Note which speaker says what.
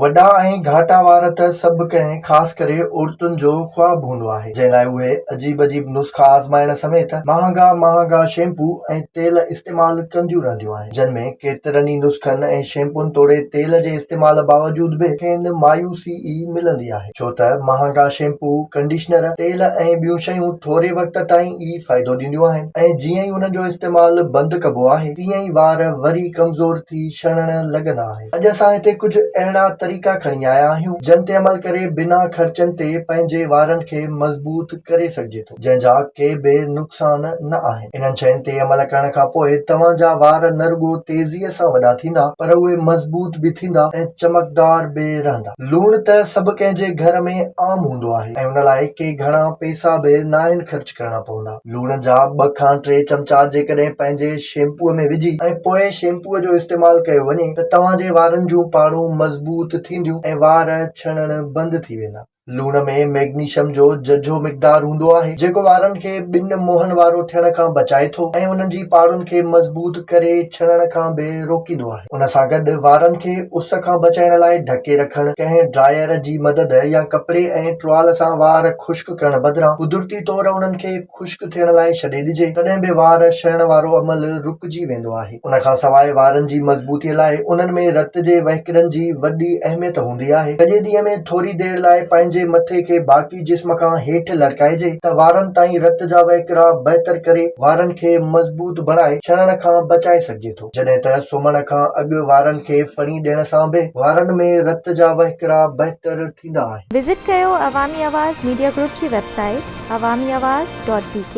Speaker 1: وڏا ۽ گهاٽا وار ته سڀ ڪنهن خاص ڪري عورتن جو خواب هوندو آهي، جنهن لاء اهي عجيب عجيب نسخا آزمائڻ سميت مهانگا مهانگا شيمپو ۽ تيل استعمال ڪنديون رهنديون آهن، جن ۾ ڪيترن ئي نسخن ۽ شيمپون توڙي تيل جي استعمال باوجود به کين مايوسي ئي ملندي آهي، ڇو ته مهانگا شيمپو، ڪنڊيشنر، تيل ۽ ٻيون شيون ٿوري وقت تائين ئي فائدو ڏينديون آهن ۽ جيئن ئي انهن جو استعمال بند ڪبو آهي، تيئن ئي وار وري ڪمزور ٿي شڻڻ لڳندا آهن. اڄ اسان هتي ڪجهه اهڙا طريقا کڻي آيا آهيون جن تي عمل ڪري بنا خرچن تي پنهنجي وارن کي مضبوط ڪري سگهجي ٿو جنهن جا ڪي به نقصان نه آهن انهن شين تي عمل ڪرڻ کان پوء توهان جا وار نه رڳو تيزي سان وڏا ٿيندا پر اهي مضبوط به ٿيندا ۽ چمڪدار به رهندا لوڻ ته سڀ ڪنهن جي گهر ۾ عام هوندو آهي ۽ ان لاء ڪي گهڻا پئسا به ناهن خرچ ڪرڻا پوندا. لوڻ جا ٻه کان ٽي چمچا جيڪڏهن پنهنجي شيمپوء ۾ وجهي ۽ پوء شيمپوء جو استعمال ڪيو وڃي ته توهان جي وارن جون پاڙون مضبوط ٿينديون ۽ وار ڇڻڻ بند ٿي ويندا. لوڻ ۾ ميگنيشم جو ججهو مقدار هوندو آهي جيڪو وارن کي ٻن منهن وارو ٿيڻ کان بچائي ٿو ۽ انهن جي پاڙن کي مضبوط ڪري ڇڻڻ کان به روڪيندو آهي. ان سان گڏ وارن کي اس کان بچائڻ لاء ڍڪي رکڻ، ڪنهن ڊرائير جي مدد يا ڪپڙي ۽ ٽوال سان وار خشڪ ڪرڻ بدران قدرتي طور انهن کي خشڪ ٿيڻ لاء ڇڏي ڏجي تڏهن به وار شهڻ وارو عمل رڪجي ويندو آهي. ان کان سواء وارن جي مضبوطي لاء انهن ۾ رت جي وهڪرن جي وڏي اهميت هوندي آهي. سڄي ڏينهن ۾ ٿوري دير لاء پنهنجي مٿي کي باقي جسم کان هيٺ لڙڪائجي ته وارن تائين رت جا وهڪرا بهتر ڪري وارن کي مضبوط بڻائي ڇڻڻ کان بچائي سگهجي ٿو. جڏهن ته سمهڻ کان اڳ وارن کي ڦڻي ڏيڻ سان به وارن ۾ رت جا وهڪرا بهتر ٿيندا آهن. وزٽ
Speaker 2: ڪيو عوامي
Speaker 1: آواز
Speaker 2: ميڊيا گروپ جي website Awami
Speaker 1: Awaz
Speaker 2: dot بي ڪي.